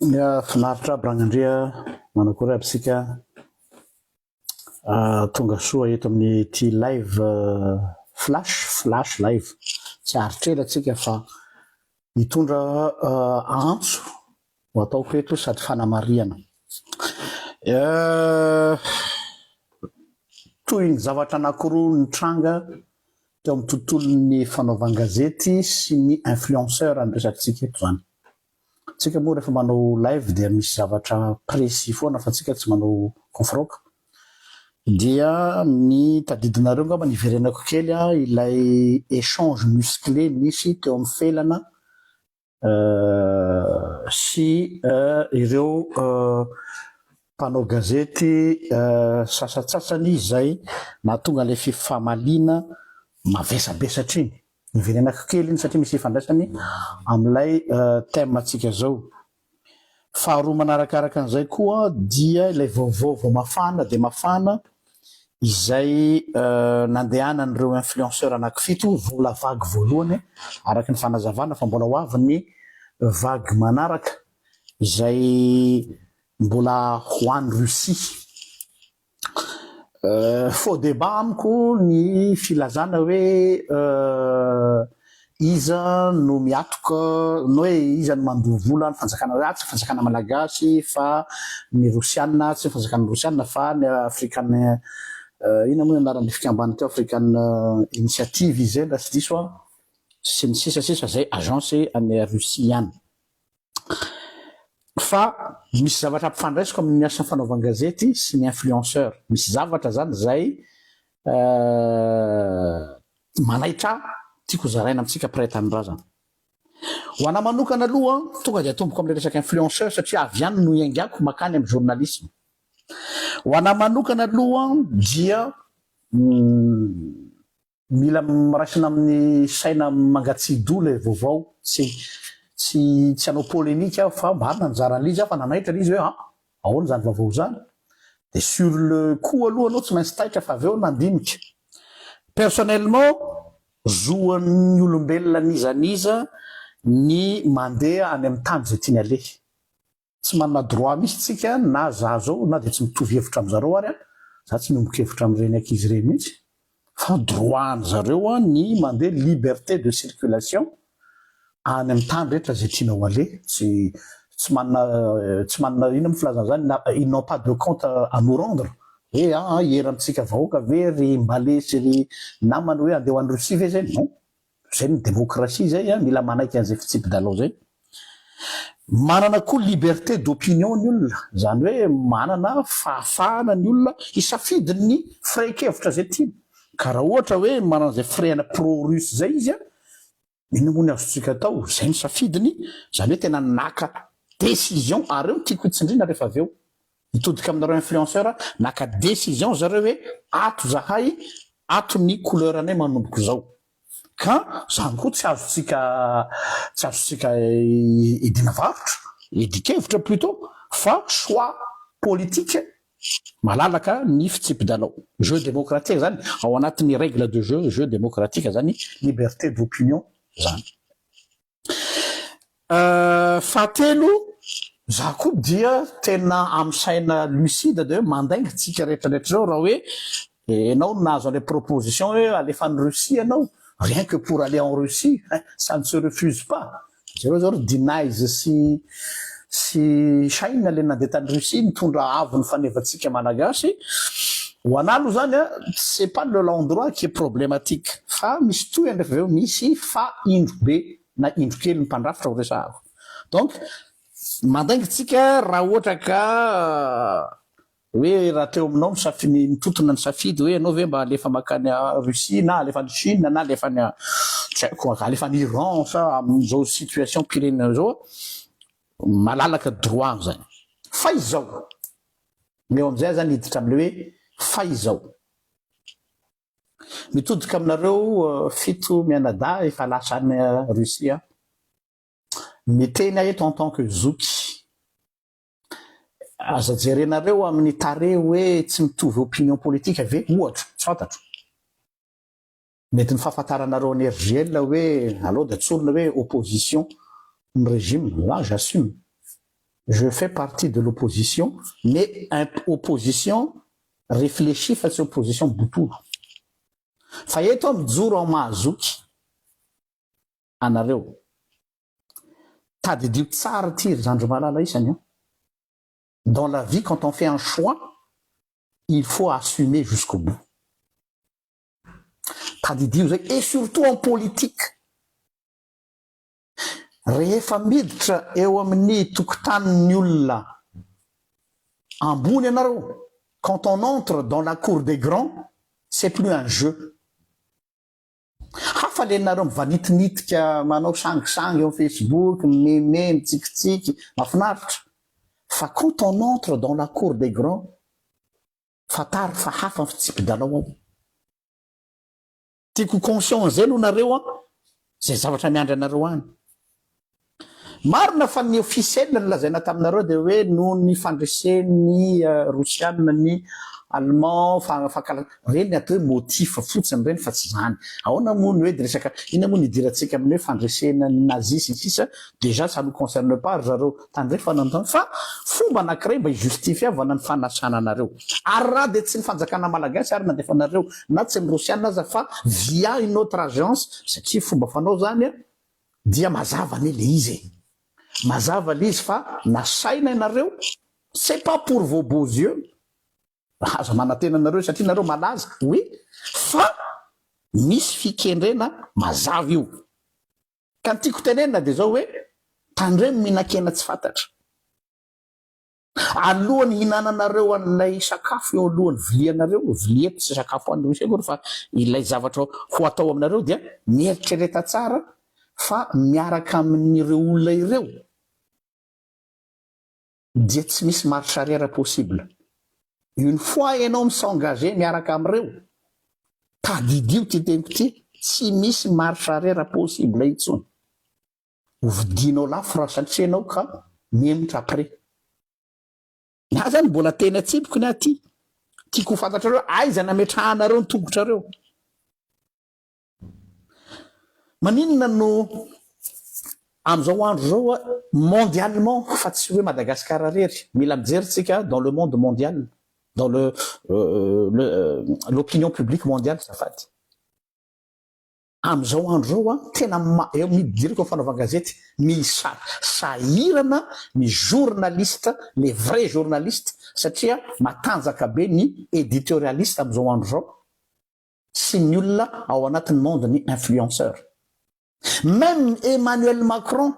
Ya finaritra aby Ragnandria, manakory aby sika ah, tonga soa eto amin'ny ity live ah, flash, flash live. Tsy aritr'ela tsika fa Hitondra antso no ataoko eto sady fanamarihana. Toy ny zavatra anankiroa nitranga teo amin'ny tontolon'ny fanaovan-gazety sy ny influenceur no resakantsika eto izany. Isika moa rehefa manao live dia misy zavatra précis foana fa isika tsy manao kofraoka. Dia ny tadidinareo angamba niverenako kely an, ilay echange musclé nisy teo amin'ny Felana sy ireo mpanao gazety sasatsasany izay nahatonga ilay fifamaliana mavesabesatra iny. Niverenako kely iny satria misy ifandraisany amin'ilay thème antsika izao. Faharoa manarakaraka an'izay koa dia ilay vaovao vao mafana dia mafana izay nandehanan'ireo influenceurs anankifito, vola vague voalohany araka ny fanazavana fa mbola ho avy ny vague manaraka izay mbola ho any Russie. Faux débat amiko ny filazana hoe iza no miatoka na hoe iza no mandoa vola ny fanjakana hoe tsy fanjakana malagasy fa ny rosiana tsy fanjakana rosiana fa ny african inona moa ny anaran'ny fikamban teo african initiative izy zay raha tsy diso aho sy ny sisa sisa zay agence any russie any fa misy zavatra ampifandraisiko amin'ny asa fanaovan-gazety sy ny influenceur, misy zavatra izany izay manaitra ahy tiako zaraina amintsika mpiray tanindrazana. Ho an'ahy manokana aloha tonga dia atomboko amin'ilay resaka influenceur satria avy any no iaingako makany amin'ny journalisme. Ho an'ahy manokana aloha dia Mila raisina amin'ny saina mangatsiadoha ilay vaovao. Tsy tsy tsy hanao polemique aho fa marina ny nizaran'l'izy aho fa nanaitra l'izy hoe an! ahoana izany vaovao izany? dia sur le coup aloha anao tsy maintsy taitra fa avy eo nandinika. Personnellement, zoan'ny olombelona n'iza n'iza ny mandeha any amin'ny tany izay tiany aleha. Tsy manana droit mihitsy tsika na za zao na dia tsy mitovy hevitra amzareo ary an, za tsy miombon kevitra amreny ankizy reny mihitsy fa droit any zareo an ny mande liberté de circulation any am tany rehetra zay tiana ho ale tsy tsy manana tsy manana inona mo filazana zany na ils n'ont pas de compte à nous rendre. Ee aa hiera amitsika vahoaka ve ry mbale sy ry namana hoe andeha ho any Russie ve zay? Non. Zay ny démocratie zay an, mila manaiky an'izay fitsipi-dalao zay. Manana koa liberté d'opinion ny olona, zany hoe manana fahafahana ny olona hisafidy ny firaikevitra zay tiany. Ka raha ohatra hoe manana izay firehana pro russe zay izy an, inona moa ny azontsika atao, zay ny safidiny, zany hoe tena naka décision, ary eo ny tiako hitsindriana rehefa avy eo. Mitodika aminareo influenceur naka decision zareo hoe ato zahay ato ny couleur nay manomboko zao ka zany koa tsy azontsika tsy azontsika idiana varotra idikevitra plutot fa choix politique malalaka ny fitsipidalao jeu democratique zany ao anatin'ny règle de jeu jeu democratique zany liberté d'opinion zany. Fahatelo, za koa dia tena am saina lucide de hoe mandainga tsika rehetra rehetra zao raha hoe enao no nahazo anle proposition hoe alefa any Russie enao rien que pour aller en Russie hein ça ne se refuse pas, zareo zao ry denies sy Tsy China le nandeha tany Russie nitondra avo ny fanevantsika Malagasy, ho anah aloha zany a, c'est pas le l'endroit qui est problematique fa misy tohiny refa avy eo misy fa indro be na indro kely ny mpandrafitra ho resahako donc mandainga tsika raha ohatra ka Hoe raha teo aminao misaf ny mitotona ny safidy hoe ianao ve mba halefa makany a Russie na halefa any Chine na halefa any a tsy haiko a halefa any Iran sa amin'izao situation mpirenena izao a malalaka droit zany fa izao ny eo amin'izay aho zany hiditra amle hoe fa izao mitodika aminareo fito mianadahy efa lasa any Russie a miteny aho eto en tant que zoky Aza jerenareo amin'ny tarehy hoe tsy mitovy opinion politika ve? Ohatra, tsy fantatro. Mety ny fahafantaranareo an'i RJL hoe aleo dia tsorina hoe opposition ny regime. Là, j'assume. Je fais partie de l'opposition, mais opposition réfléchie fa tsy opposition botolo. Fa eto aho mijoro ao Mahazoky. anareo. Tadidio tsara ity ry zandry malala isany an! Dans la vie quand on fait un choix, il faut assumer jusqu'au bout. Tadidio izay et surtout en politique. Rehefa miditra eo amin'ny tokotanin'ny olona ambony ianareo, quand on entre dans la cour des grands, c'est plus un jeu. Hafa le nareo mivanitinitika manao sangisangy eo facebook, mimeme, mitsikitsiky, mafinaritra. Fa quand on entre dans la cour des grands, fantaro fa hafa ny fitsipi-dalao ao. Tiako ho conscient an'izay aloha nareo an, izay zavatra miandry anareo any. Marina fa ny officiel ny lazaina taminareo dia hoe noho ny fandresen'ny rosianina ny allemand fa fankala ireny atao hoe motif fotsiny ireny fa tsy izany ahoana moa ny hoe dia resaka inona moa ny idirantsika amin'ny hoe fandresena ny nazi sy ny sisa déjà ça nous concerne pas ry zareo tandrefana ny fa fomba anankiray mba hijustifiavana ny fanasana anareo ary raha dia tsy ny fanjakana malagasy ary nandefa anareo na tsy ny rosianina aza fa via une autre agence satria fomba fanao izany Dia mazava anie le izy e. Mazava le izy fa nasaina ianareo c'est pas pour vos beaux yeux aza manantena anareo satria nareo malaza oui fa misy fikendrena mazava io ka ny tiako tenenina de zao hoe tandremo mihinan-kena tsy fantatra. Alohan'ny hihinananareo an'ilay sakafo eo alohan'ny vilianareo, vilia tsy sakafo hohanin'ny Rosia akory fa ilay zavatra ho atao aminareo, dia mieritrereta tsara fa miaraka amin'ireo olona ireo dia tsy misy marche arrière possible. Une fois ianao mi-s'engager miaraka amin'ireo, tadidio ity teniko ity, tsy misy marche arrière possible intsony. Ho vidinao lafo raha satria ianao ka mihemotra après. Za zany mbola teny an-tsipiko ny ahy ty. Tiako ho fantatrareo aiza nametrahanareo ny tongotrareo. Maninona no amin'izao andro izao a mondialement fa tsy hoe Madagascar rery. Mila mijery tsika dans le monde mondial, dans le le l'opinion publique mondiale zafady. Amin'izao andro izao, tena maro, eo amin'ny diriko fanaovana gazety, misa, sahirana ny journaliste, les vrais journalistes, satria matanjaka be ny editorialiste amin'izao andro izao sy ny olona ao anatin'ny monde-n'ny influenceurs. Même Emmanuel Macron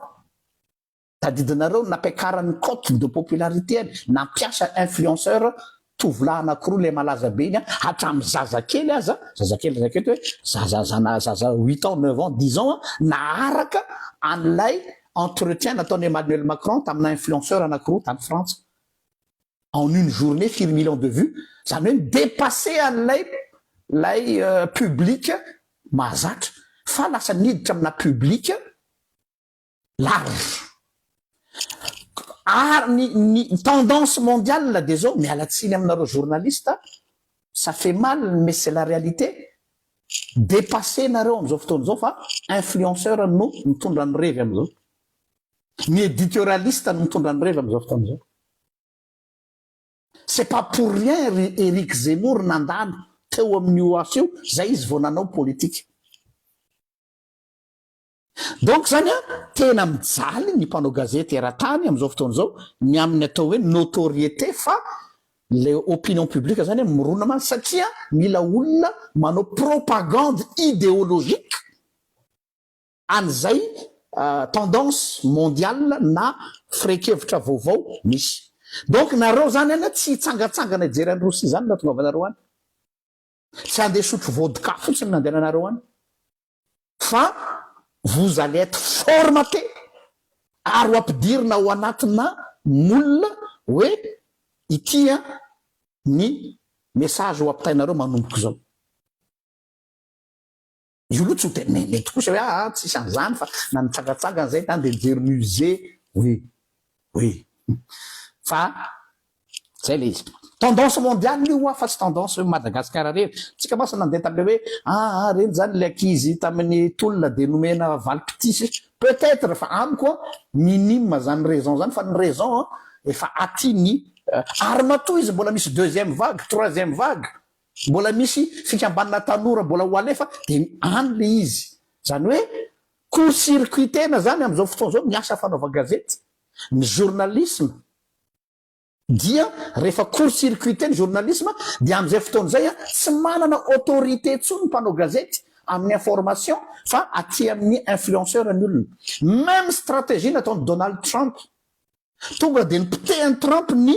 Tadidinareo nampiakarany cote de popularité-ny, nampiasa influenceur tovolahy anakiroa ilay malaza be iny an, hatramin'ny zazakely aza, zazakely raha zakaiko hoe zaza zana zaza huit ans, neuf ans, dix ans an, naharaka an'ilay entretien nataon'i Emmanuel Macron tamina influenceur anakiroa tany Frantsa. En une journée firy millions de vues? Izany hoe mi-depasser an'ilay ilay public mahazatra fa lasa niditra amina public large. Ary ny, ny tendance mondiale dia zao, miala tsiny aminareo journaliste, ça fait mal mais c'est la réalité, depassenareo amin'izao fotoana izao fa influenceur no mitondra ny revy amin'izao. Ny editorialiste no mitondra ny revy amin'izao fotoana izao. C'est pas pour rien ry Eric Zemmour nandalo teo amin'ny OAF io, zay izy vao nanao politika. Donc zany a tena mijaly ny mpanao gazety eran-tany amin'izao fotoana izao ny amin'ny atao hoe notoriété fa le opinion publique zany a mirona mafy satria mila olona manao propagande idéologique an'izay tendance mondiale na firehin-kevitra vaovao misy. Donc nareo zany any a tsy hitsangantsangana hijery an'i Rossy zany raha tongavanareo any. Tsy handeha hisotro vodka fotsiny nandehananareo any fa vous allez être formaté ary ho ampidirina ao anatina moule hoe ity ny message ho ampitainareo manomboka izao. Io aloha tsy ho tena me- mety kosa hoe aa tsisy an'izany fa na ny tsangantsangana zay tany dia mijery musée oui oui fa zay le izy. Tendance mondiale io hoa fa tsy tendance hoe Madagascar rery. Tsika mantsy nandeha tam'le hoe aa reny zany le ankizy tamin'ny tolona dia nomena valim-pitia peut etre fa amiko an minime zany raison zany fa ny raison an efa aty ny ary matoa izy mbola misy deuxième vague, troisième vague. Mbola misy fikambanana tanora mbola ho alefa dia ny any le izy. Zany hoe court circuit tena zany amin'izao fotoana izao ny asa fanaovan-gazety, ny journalisme. Dia rehefa court circuit ny journalisme dia amin'izay fotoana izay tsy manana autorité intsony ny mpanao gazety amin'ny information fa aty amin'ny influenceur ny olona. Même stratégie nataon'i Donald Trump Tonga dia nipotehiny Trump ny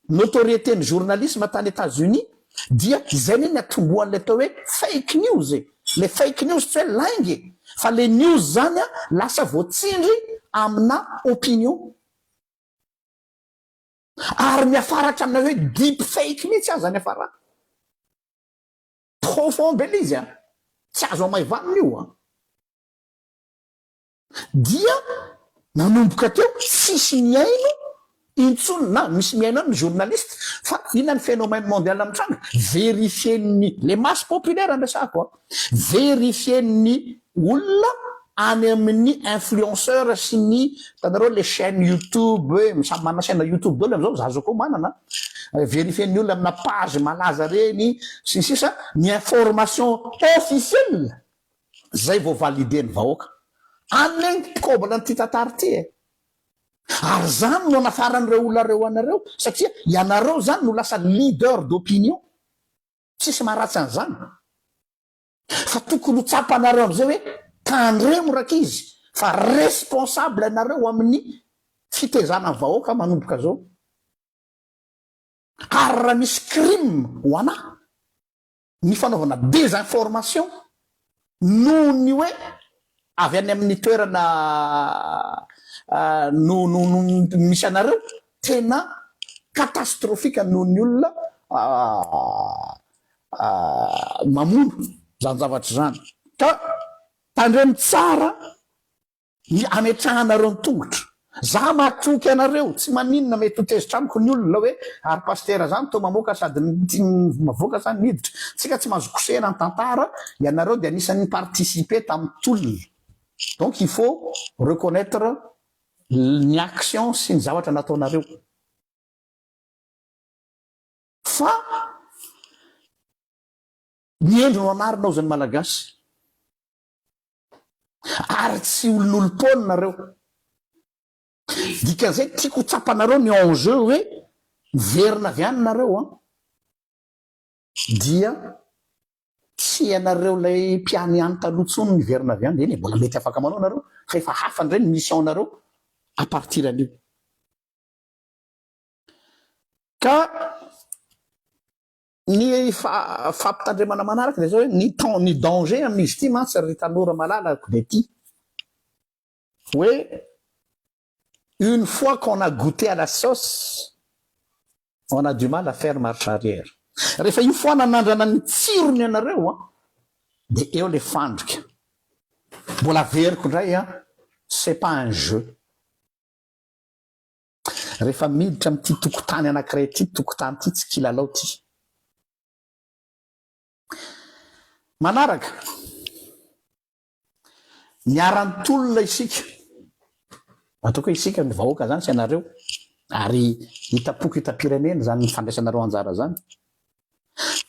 notoriété-ny journalisme tany Etats Unis dia izay anie niatombohan'ilay atao hoe fake news e! Ilay fake news tsy hoe lainga e! Fa ilay news zany an lasa voatsindry amina opinion. Ary miafara hatramin'ilay hoe deep fake mihitsy aza niafarana. Profond be ilay izy an! Tsy azo amaivanina io an! Dia nanomboka teo tsisy mihaino intsony na misy mihaino any ny journaliste fa ina ny phénomène mondial mitranga, verifien'ny les masses populaires ampiasako a, verifien'ny olona any amin'ny influenceur sy ny hitanareo les chaines youtube hoe samy manana chaine youtube daholo amzao, za zao koa manana, verifien'ny olona amina page malaza reny sy ny sisa ny information officielle Zay vao valider ny vahoaka. Any lay ny mpikobana an'ity tantara ity e. Ary zany no anafaran'ireo olona reo anareo satria ianareo zany no lasa leader d'opinion. Tsisy maharatsy an'zany. Fa tokony ho tsapanareo am'zay hoe tandremo rankizy fa responsable ianareo amin'ny fitezana ny vahoaka manomboka zao. Ary raha misy crime ho anah. ny fanaovana désinformation noho ny hoe avy any amin'ny toerana no no no misy anareo tena catastrophique noho ny olona mamono izany zavatra izany ka tandremo tsara Ny ametrahanareo ny tongotro. Za matoky anareo, tsy maninona mety ho tezitra amiko ny olona hoe ary pasitera zany toa mamoaka sady mavoaka sa miditra. Tsika tsy mahazo kosehina ny tantara, ianareo dia anisan'ny ni participer tamin'ny tolona. Donc il faut reconnaitre ny actions sy ny zavatra nataonareo. Fa ny hendry no anarina hozy ny malagasy. Ary tsy olon'olom-poana nareo. Dikan'izay tiako ho tsapanareo ny enjeu hoe miverina avy any nareo an! Dia tsy ianareo ilay mpiany any taloha intsony miverina avy any. Eny e, mbola mety afaka manao nareo fa efa hafa indray ny mission nareo à partir anio. Ka Ny fampitandremana manaraka dia izao hoe ny temps ny danger amin'izy ity mantsy ry tanora malala ko dia ity hoe une fois qu'on a goûté à la sauce on a du mal à faire marche arrière rehefa io foana nandrana ny tsirony ianareo an dia eo le fandrika mbola averiko indray an c'est pas un jeu Rehefa miditra amin'ity tokotany anankiray ity, tokotany ity tsy kilalao ity. Manaraka, niara-nitolona isika. Ataoko hoe isika ny vahoaka izany sy ianareo, ary hitam-poko hitam-pirenena izany ny fandraisanareo anjara izany.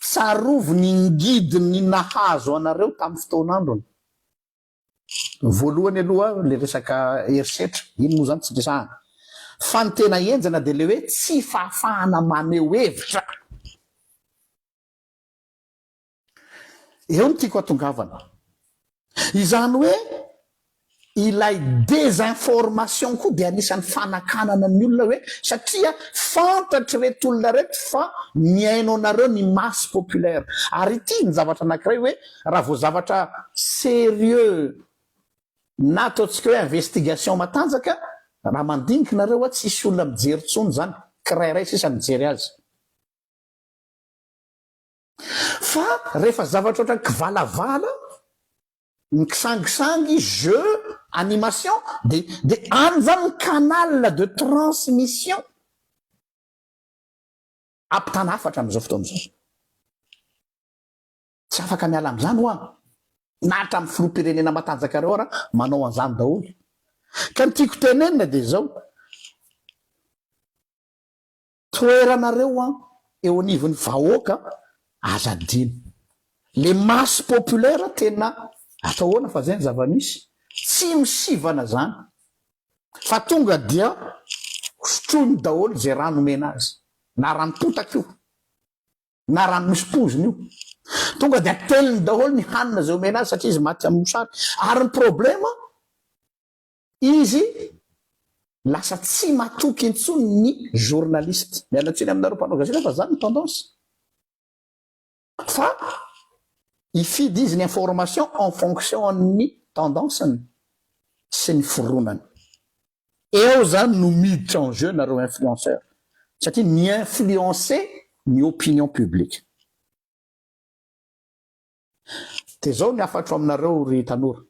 Tsarovy ny ngidiny nahazo anareo tamin'ny fotoan'androny. Voalohany aloha le resaka herisetra, iny moa zany tsy resahana. Fa ny tena henjana de le hoe tsy fahafahana maneho hevitra. Eo no tiako hatongavana. Izany hoe ilay désinformation koa dia anisan'ny fanakanana ny olona hoe satria fantatr'ireto olona ireto fa mihaino anareo ny masse populaire. Ary ity ny zavatra anankiray hoe Raha vao zavatra serieux na ataontsika hoe investigation matanjaka, raha mandinika nareo a, tsy hisy olona mijery tsony zany, kirairay sisa mijery azy. Fa rehefa zavatra ohatran'ny kivalavala, ny kisangisangy, jeux, animation, dia dia any zany ny canal de transmission ampitana hafatra amin'izao fotoana izao. Tsy afaka miala amin'izany hoa, na hatramin'ny filoham-pirenena matanjaka ireo ara manao an'izany daholo. Ka ny tiako tenenina dia izao, toeranareo hoa eo anivon'ny vahoaka aza adino. Le masse populaire tena atao ahoana fa izay ny zava-misy. Tsy misivana izany fa tonga dia hosotroiny daholo izay rano omena azy, na ranom-potaka io. na rano misy pozina io. Tonga dia ateliny daholo ny hanina izay omena azy satria izy maty amin'ny mosary. Ary ny problema, izy lasa tsy matoky intsony ny journaliste. Miala tsiny aminareo mpanao gazety fa zany ny tendance. Fa hifidy izy ny information en fonction an'ny tendance-ny sy ny fironany. Eo zany no miditra en jeu nareo influenceurs satria mi-influencer ny opinion publique. De zao ny hafatro aminareo ry tanora,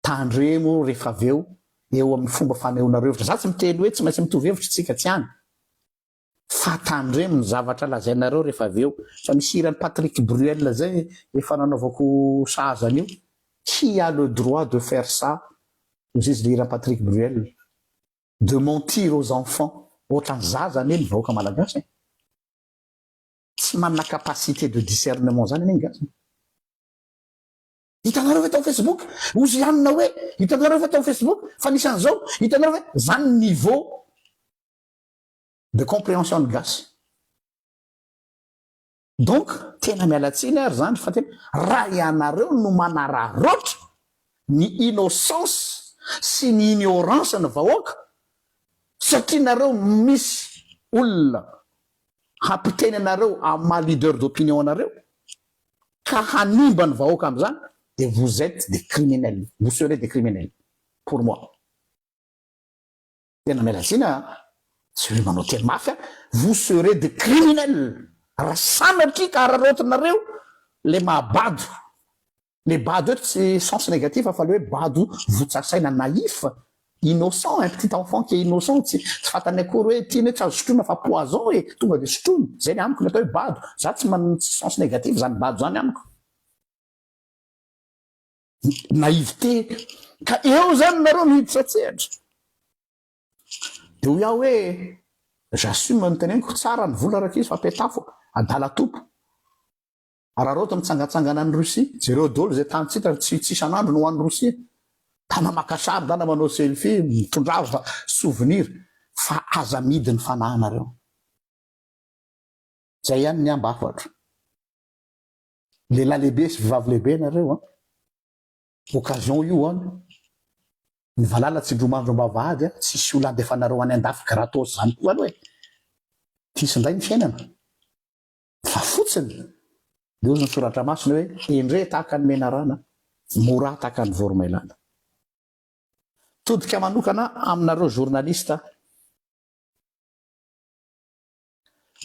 tandremo rehefa avy eo eo amin'ny fomba fanehoanareo hevitra, za tsy miteny hoe tsy maintsy mitovy hevitra isika, tsy any, Fa tandremo ny zavatra lazainareo rehefa avy eo. Fa misy hiran'i Patrick Bruel zay efa nanaovako sahaza an'io, Qui a le droit de faire ça? Hozy izy, le hiran'i Patrick Bruel, De mentir aux enfants. Ohatran'ny zaza anie ny vahoaka malagasy e! Tsy manana capacité de discernement zany anie ny gasy e! Hitanareo ve tao Facebook? Hozy i Anna hoe, Hitanareo ve tao Facebook fa nisy an'izao? Hitanareo ve? Zany ny niveau de comprehension ny gasy donc tena miala tsiny ary zany fa tena raha ianareo no manararaotra ny innocence sy ny ignorance ny vahoaka satria nareo misy olona hampiteny anareo amin'ny maha leader d'opinion anareo ka hanimba ny vahoaka amin'izany de vous etes des criminels vous serez des criminels pour moi Tena miala tsiny a, tsy hoe manao teny mafy a, vous serez des criminels raha sanatria ka araraotinareo le maha bado, le bado eto tsy sens negatif fa le hoe bado votsasaina naïf, innocent, un petit enfant qui est innocent tsy tsy fantany akory hoe ity ne tsy azo sotroina fa poison e, tonga de sotroiny, zay le amiko le atao hoe bado, za tsy man tsy sens negatif zany bado zany amiko. naïveté ka eo zany nareo no hiditra an-tsehatra de hoy aho hoe j'assume ny teneniko tsara ny vola rakizy fa petafo adala topo araraoty ny tsangatsangana any Russie jereo dolo zay tany tsy hitany tsy isan'andro no any Russie tana maka sary ndana manao selfie mitondra azy fa souvenir fa aza midy ny fanahinareo zay ihany ny ambafatro Lehilahy lehibe sy vehivavy lehibe ianareo an! Occasion io an! Ny valala tsindromandry am-bavahady an! Tsy hisy olona handefanareo any an-dafy gratos izany koa aloha e! Tys indray ny fiainana! Fa fotsiny dia hozy ny soratra masina hoe, Endrey tahaka ny menarana, morahy tahaka ny voromailala. Todika manokana aminareo journaliste an!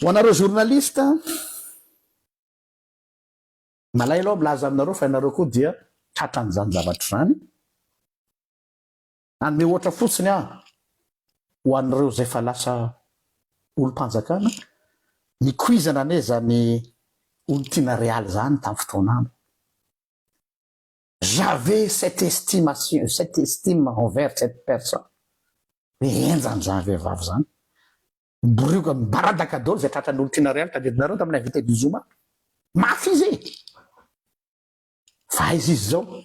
Ho anareo journaliste an! Malahelo aho milaza aminareo fa ianareo koa dia tratran'izany zavatra izany. Hanome ohatra fotsiny aho ho an'ireo izay efa lasa olom-panjakana, nikoizana anie izany olon-tiana Real izany tamin'ny fotoanany. J'avais cette estimation, cette estime envers cette personne. Be henjana izany vehivavy izany. Borioka mibaradaka daholo izay tratran'ny olon-tiana ariary tadidinareo tamin'ny invité du zoma. Mafy izy e! Fa aiza izy izao?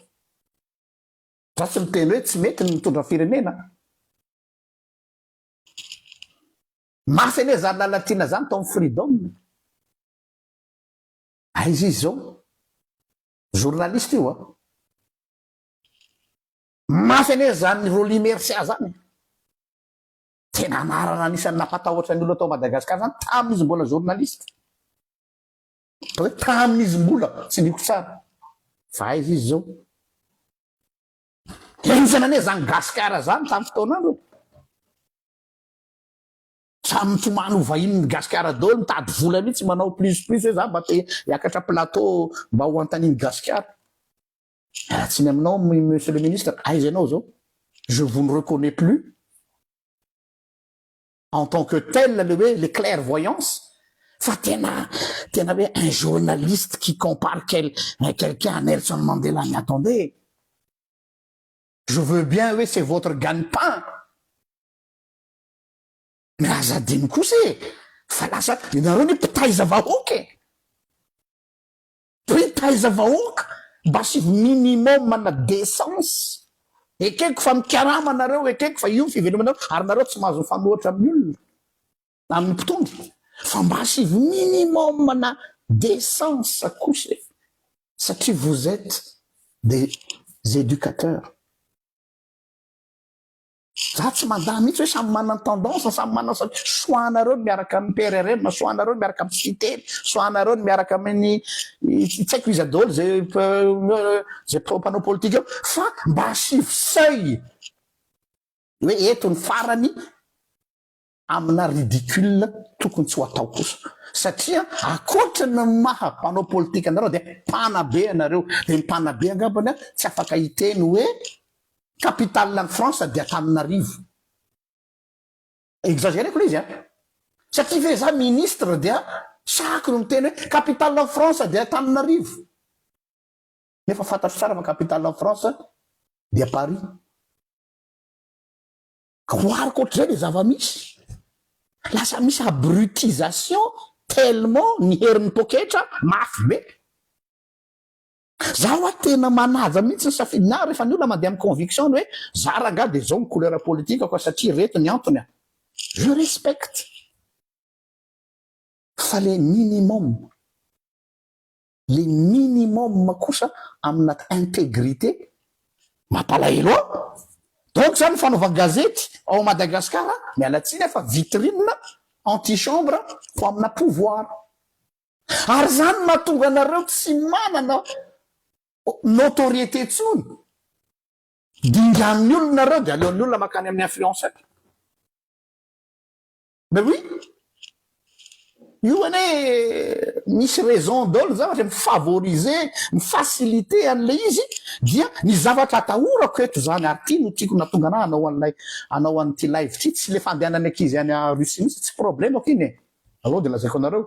Za tsy miteny hoe tsy mety ny mitondra firenena. Mafy anie zany Lalatiana zany tao amin'ny Freedom. Aiza izy izao? Journaliste io a. Mafy anie zany Rolly Mercia zany. Tena anarana anisan'ny nampatahotra ny olona tao Madagascar zany tamin' izy mbola journaliste. Atao hoe tamin' izy mbola, tsy lihiko tsara fa aiza izy zao. De anisany anie zany gasikara zany tamin'ny fotoanandro e. Samy mifomano ho vahinin'ny gasikara daholo, mitady vola mihitsy manao plus plus hoe za mba te hiakatra plateau mba ho antaniny gasikara. Raha tsy ny aminao Monsieur le Ministre, aiza ianao zao? Je vous ne reconnais plus en tant que tel le hoe le clairvoyance fa tena tena hoe un journaliste qui compare quel quelqu'un à Nelson Mandela mais attendez je veux bien hoe c'est votre gagne-pain mais aza adino kosa e fa lasa ianareo ny mpitaiza vahoaka e Mpitaiza vahoaka mba asivo minimum ana décence. Ekeko fa mikarama nareo, ekeko fa io ny fivelomanareo ary nareo tsy mahazo mifanohatra amin'ny olona, amin'ny mpitondra fa mba asivo minimum ana décence kosa e! Satria vous etes des éducateurs. Za tsy mandà mihitsy hoe samy manana tendance, samy manana satria choix anareo ny miaraka amin'ny PRRM, choix anareo ny miaraka amin'ny Siteny, choix anareo ny miaraka amin'ny tsy haiko iza daholo izay izay mpanao politika eo fa mba asivo seuil hoe eto ny farany Amina ridicule tokony tsy ho atao kosa satria akoatra ny maha mpanao politika anareo dia mpanabe ianareo dia ny mpanabe angambany tsy afaka hiteny hoe capitale ny France dia Antananarivo. Exagereko le izy an! Satria ve za ministre dia sahako ny miteny hoe capitale ny France dia Antananarivo? Nefa fantatro tsara fa capitale ny France dia Paris. Goariko ohatr'izay le zava-misy. Lasa misy abrutisation tellement ny herin'ny poketra mafy be. Za wa tena manaja mihitsy ny safidiny ahy rehefa ny olona mandeha amin'ny conviction-ny hoe za rangah dia zao ny couleur politikako satria ireto ny antony an. Je respecte fa le minimum. le minimum kosa amina integrite mampalahelo an! donc zany ny fanaovan gazety ao Madagascar miala tsiny ah fa vitrine anti chambre ho amina pouvoir ary zany mahatonga anareo tsy manana notoriete tsony dingan'ny olona nareo de aleon'ny olona makany amin'ny influenceur. Mais oui! Io anie misy raison daholo ny zavatra, mi-favoriser, mi-faciliter an'ilay izy dia ny zavatra atahorako eto izany ary ity no tiako nahatonga anà hanao an'ilay hanao an'ity live ity, tsy ilay fandehanan'ny ankizy any Russie mihitsy, tsy problème-ko iny e! Aleo dia lazaiko anareo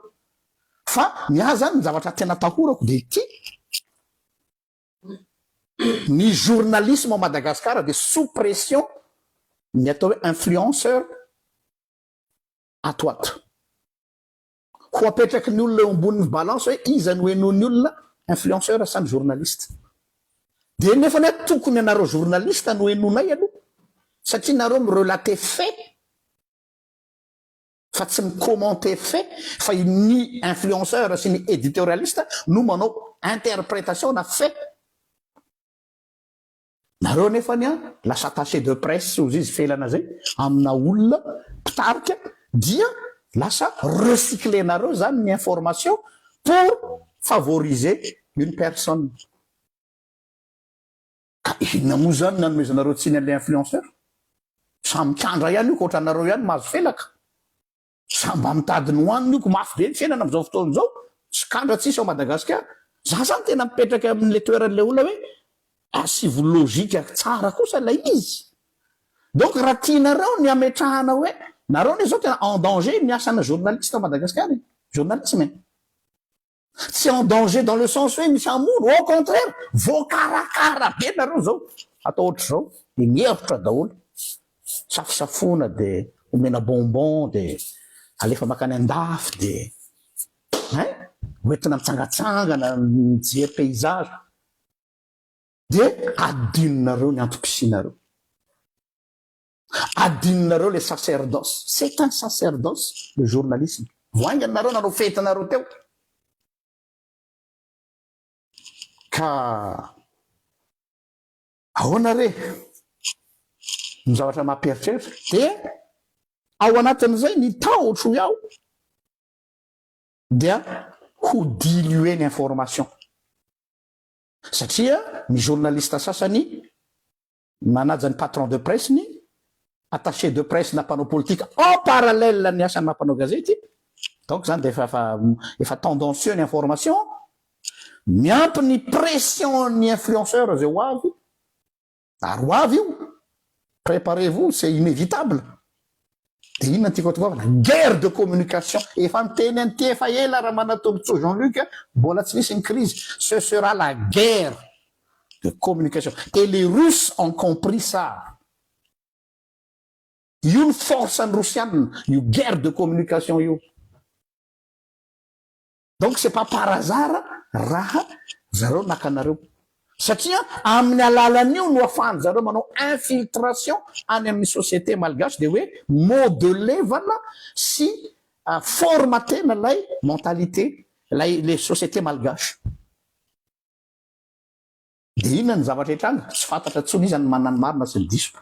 fa ny ahy izany ny zavatra tena atahorako dia ity, Ny journalisme ao Madagascar dia sous pression ny atao hoe influenceur ato ato. Ho apetraky ny olona eo ambonin'ny balance hoe iza no henoin'ny olona, influenceur sa ny journaliste. Dia nefany aho tokony anareo journaliste no henonay aloha satria nareo mi-relater fait. fa tsy ny commenter fait fa i ny influenceur sy ny editorialiste no manao interpretation na fait nareo anefany an lasa attaché de presse ozy izy felana zay amina olona mpitarika dia lasa recycler nareo zany ny information pour favoriser une personne. Ka inona moa izany no nanomezanareo tsiny an'ilay influenceur? Sa mikandra ihany io ka ohatranareo ihany mahazo felaka? Sa mba mitady ny hohaniny io ko mafy be ny fiainana amin'izao fotoana izao, tsy kandra tsisy ao Madagasikara? Za zany tena mipetraka eo amin'ilay toeran'ilay olona hoe asivo logique tsara kosa ilay izy. Donc raha tianareo ny hametrahana hoe nareo anie izao tena en danger ny asana journaliste ao Madagasikara e! Journalisme e! Tsy en danger dans le sens hoe misy hamono, au contraire, voakarakara be nareo zao, atao ohatr'izao de mihevitra daholo, safosafoina de omena bonbon de alefa makany andafy de hein, hoentina mitsangatsangana mijery paysage de adinonareo ny antom-pisianareo. Adinonareo le sacerdoce. C'est un sacerdoce le journalisme. Vao haingana nareo nanao fety nareo teo ka ahoana re ny zavatra mampiheritreritra dia ao anatin'izay ny tahotro ny ao dia ho diluer ny information satria ny journaliste sasany Manaja ny patron de presse, ny attaché de presse na mpanao politika en parallèle ny asan'ny maha mpanao gazety, donc zany dia efa efa efa tendancieux ny information, miampy ny pression-n'ny influenceurs izay ho avy, ary ho avy io, préparez-vous, c'est inévitable. Dia inona no tiako hatoavina? Guerre de communication! Efa niteny an'ity efa ela Ramanatolotsoa Jean Luc, mbola tsy nisy ny crise. Ce sera la guerre de communication et les Russes ont compris ça. Io ny force ny Rosianina, io guerre de communication io. Donc c'est pas par hasard raha zareo naka anareo satria amin'ny alalan'io no afahan'ny zareo manao infiltration any amin'ny société malgache dia hoe modelevana sy formatena ilay mentalité ilay société malgache. Dia inona ny zavatra hitranga? Tsy fantatra intsony iza no manana ny marina sy ny diso.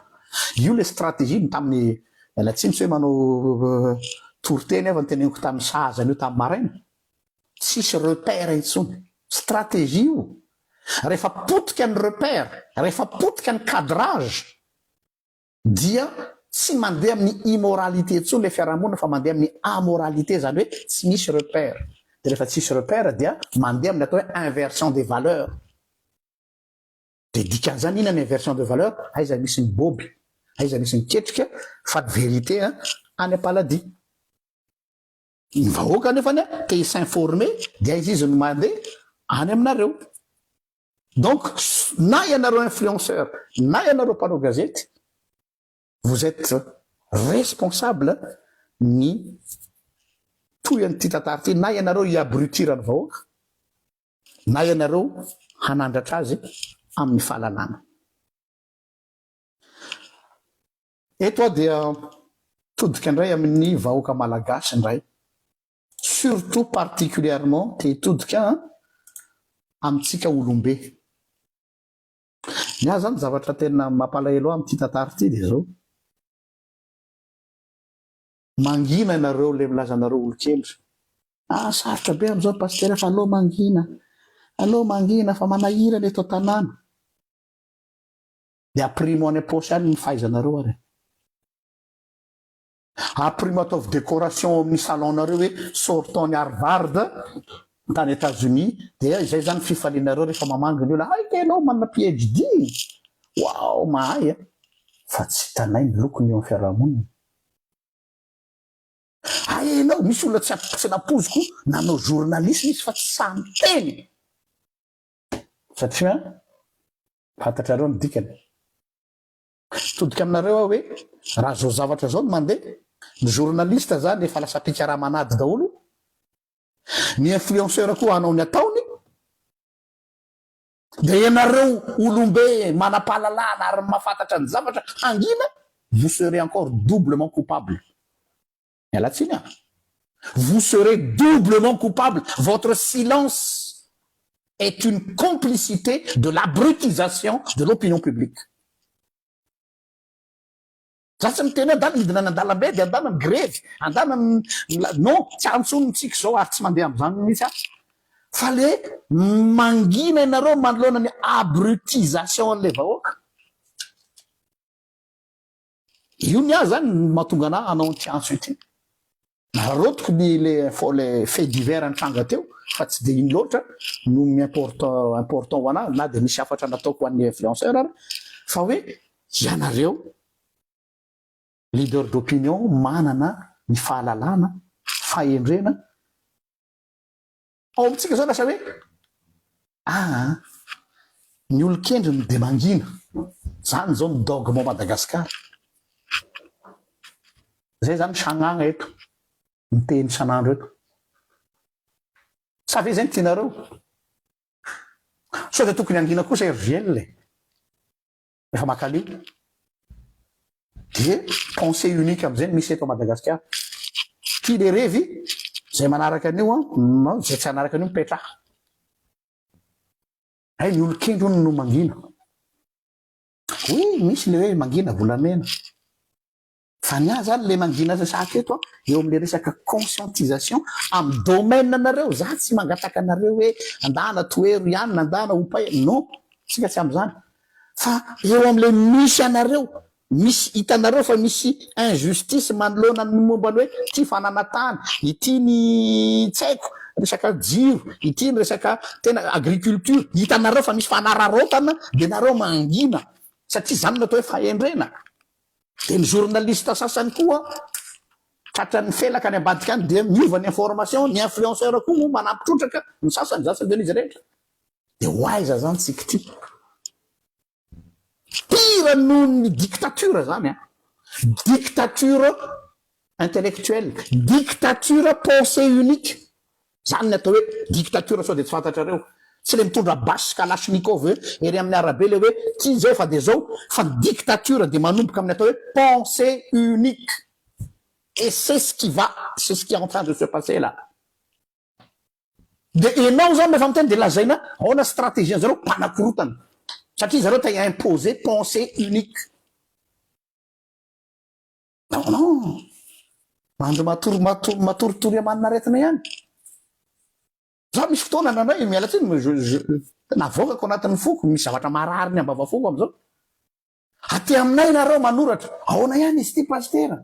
Io ilay stratégie ny tamin'ny, miala tsiny tsy hoe manao toriteny aho fa ny teneniko tamin'ny sahaza an'io tamin'ny maraina. Tsisy repère intsony. Stratégie io. Rehefa potika ny repère, rehefa potika ny cadrage, Dia tsy mandeha amin'ny immoralité intsony ilay fiarahamonina fa mandeha amin'ny amoralité, izany hoe tsy misy repère. Dia rehefa tsy misy repère dia mandeha amin'ny atao hoe inversion des valeurs. Dia dikan'izany inona ny inversion de valeur? Aiza misy ny boby? Aiza misy ny ketrika? Fa ny vérité an, any am-paladia. Ny vahoaka anefany an, te hi-s'informer dia aiza izy no mandeha? Any aminareo. Donc na ianareo influenceurs na ianareo mpanao gazety vous etes responsable ny tohian'ity tantara ity na ianareo hi abrutir ny vahoaka na ianareo hanandratra azy amin'ny fahalalana. Eto aho dia mitodika indray amin'ny vahoaka malagasy indray Surtout particulièrement te todika amintsika olombe. Ny ahy zany zavatra tena mampalahelo ahy amin'ity tantara ity dia zao, mangina ianareo le milaza anareo olokely, ah sarotra be amzao ry pasitera fa aleo mangina, aleo mangina fa manahirana eto an-tanàna, dia aprimo any am-paosy any ny fahaizanareo ary. Aprimo ataovy décoration ao amin'ny salon nareo hoe sortant ny Harvard tany Etats Unis dia izay zany fifalianareo rehefa mamangy ny olona hay kay enao manana PHD waouh mahay a! fa tsy hitanay ny lokony eo amin'ny fiarahamonina hay enao misy olona tsy tsy napoziko nanao journalisme izy fa tsy sahy miteny satria fantatrareo ny dikany Hitodika aminareo aho hoe raha zao zavatra zao no mandeha, ny journaliste zany efa lasa mpikaraman'ady daholo, ny influenceur koa hanao ny ataony, dia ianareo olombe manapahalalana ary mahafantatra ny zavatra hangina, vous serez encore doublement coupable. Miala tsiny aho. Vous serez doublement coupable, votre silence est une complicité de l'abrutisation de l'opinion publique. Za tsy miteny hoe andana hidina any andalambe dia andana migrevy, andana mi-, non, tsy ahy intsony ny tsiky izao ary tsy mandeha amin'izany mihitsy aho. Fa le mangina ianareo manoloana ny abrutisation an'ilay vahoaka. Io ny ahy zany no mahatonga anah hanao an'ity antso ity. Naraotiko ny le info le fait divers nitranga teo fa tsy dia iny loatra no mi-importe important ho anah na dia misy hafatra nataoko ho an'ny influenceur ary fa hoe ianareo leader d'opinion manana ny fahalalana, fahendrena, Ao amintsika zao lasa hoe aa ny olon-kendry no dia mangina. Zany zao ny dogme ao Madagascar. Zay zany ny sagnagna eto, miteny isan'andro eto. Sa ve zay ny tianareo? Sao dia tokony hangina kosa i RJL e? Rehefa maka an'io dia pensée unique am'zay no misy eto Madagasikara. Tia le revy, zay manaraka an'io an, na zay tsy hanaraka an'io mipetraha. Hay ny olon-kendry hono no mangina. Oui, misy le hoe mangina volamena. Fa ny ahy zany ilay mangina resaka eto an, eo amin'ilay resaka conscientisation amin'ny domaine anareo, za tsy mangataka anareo hoe andana toero ihany na andana oupay, non, isika tsy amin'izany, fa eo amin'ilay misy anareo, misy hitanareo fa misy injustice manoloana ny momba ny hoe ity fananantany, ity ny tsy haiko resaka jiro, ity ny resaka tena agriculture, hitanareo fa misy fanararaotana dia nareo mangina satria izany no atao hoe fahendrena. Dia ny journaliste sasany koa tratran'ny felaka any ambadika any dia miova ny information, ny influenceur koa moa manampy trotraka ny sasany, izany tsy adino izy rehetra. Dia ho aiza izany tsy kiti. Pire noho ny dictature izany an! Dictature intellectuelle, dictature pensée unique. Zany ny atao hoe dictature sao de tsy fantatrareo? Tsy le mitondra basy sy kalachnikov hoe ery amin'ny arabe le hoe ty zao efa de zao fa ny dictature de manomboka amin'ny atao hoe pensee unique et c'est ce qui va c'est ce qui est en train de se passer là de enao zany refa miteny de lazaina aona strategie an'i zareo mpanakorotana satria zareo te imposer pensee unique. Non, non. Mandry matory, matory, matoritory amanina aretina ihany. Za misy fotoana nandray, miala tsiny, mais je, je, navoakako anatin'ny foko, misy zavatra marary ny ambava foko am'zao. Aty aminay nareo manoratra, aona ihany izy ity pasitera?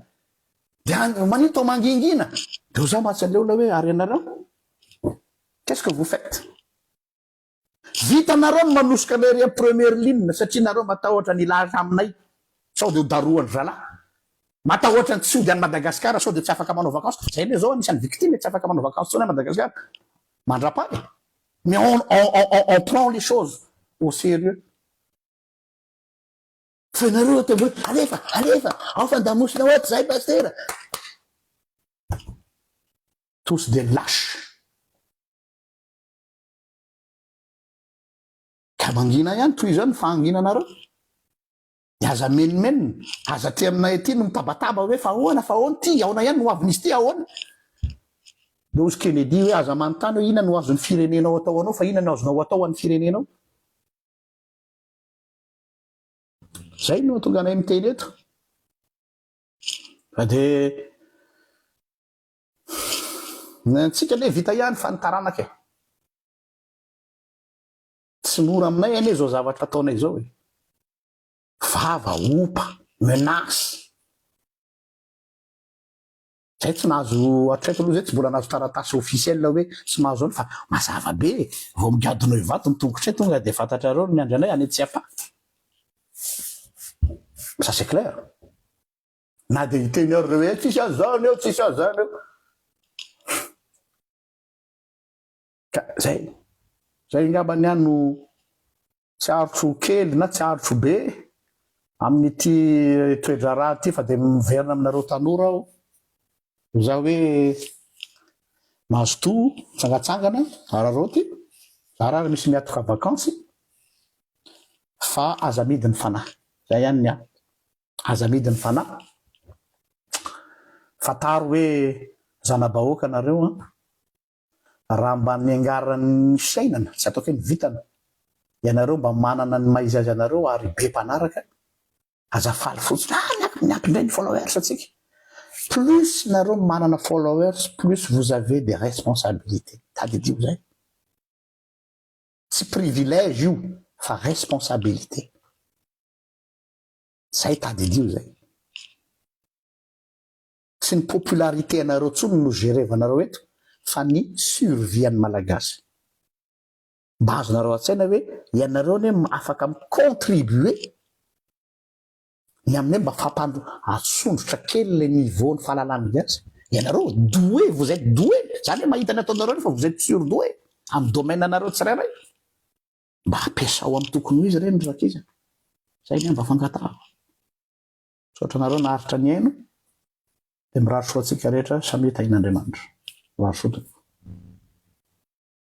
De an- manino tao mangingina. Deo za matsy aleo ilay hoe, ary ianareo? Qu'est-ce que vous faites? Vitanareo ny manosoka anay ery am première ligne satria nareo matahotra ny hilaza aminay sao dia ho darohan'ny zalahy. Matahotra ny tsy hody any Madagascar sao dia tsy afaka manao vacances. Zay le zao anisan'ny victime e, tsy afaka manao vacances tsony any Madagascar. Mandrapaha e. Mais on on on on prend les choses au sérieux. Fa ianareo aty ambony alefa alefa ao fandamosina ao aty zahay pasitera. Tous des lâches. Ka mangina ihany toy izao ny fahanginanareo. Dia aza menomenona, aza aty aminay aty no mitabataba hoe fa ahoana, fa ahoana, ity aona ihany no ho avin'izy ity, ahoana. Dia hozy Kennedy hoe aza manontany hoe inona no azon'ny firenenao atao ho anao fa inona no azonao ho atao ho an'ny firenenao. Izay no hahatonga anay miteny eto. Fa dia Ny antsika anie vita ihany fa ny taranaka e! Tsy mora aminay anie izao zavatra ataonay izao e! Vava, opa, menace. Zay tsy nahazo hatreto aloha zay tsy mbola nahazo taratasy officiel hoe tsy mahazo an'io fa mazava be e! Vao migadona eo ivato ny tongotray tonga dia fantatrareo ny miandry anay any Tsiafahy. Ça c'est clair. Na dia hiteny ary ireo hoe tsisy an'izany eo, tsisy an'izany eo. Ka zay, zay angamba ny ahy no tsy arotro kely na tsy arotro be amin'ity toe-draharaha ity fa dia miverina aminareo tanora aho. Izaho hoe mazotoa mitsangatsangana araraoty, zara ary misy miatoka vakansy fa aza amidy ny fanahy. Zay ihany ny ahy. Aza amidy ny fanahy. Fantaro hoe zana-bahoaka nareo an! Raha mba niangaran'ny fiainana, tsy ataoko hoe ny vintana, ianareo mba manana ny maha izy azy anareo ary be mpanaraka, aza faly fotsiny ah miampy miampy indray ny followers antsika. Plus nareo manana followers plus vous avez des responsabilités. Tadidio zay. Tsy privilège io fa responsabilité. Zay tadidio zay. Tsy ny popularité anareo tsony no gerevanareo eto fa ny survie an'ny Malagasy. Mba azonareo an-tsaina hoe ianareo anie afaka mi contribuer ny amin'ny hoe mba fampandro atsondrotra kely ilay niveau ny fahalalan'ny gasy. Ianareo doué, vous êtes doué, zany hoe mahita ny ataonareo anie fa vous êtes surdoué amin'ny domaine anareo tsirairay. Mba ampiasao am tokony ho izy ireny ry zakizy a! Zay anie mba fangatahako. Misaotra anareo naharitra nihaino dia mirary soa antsika rehetra samy hitahian'Andriamanitra. Mirary soa tompoko.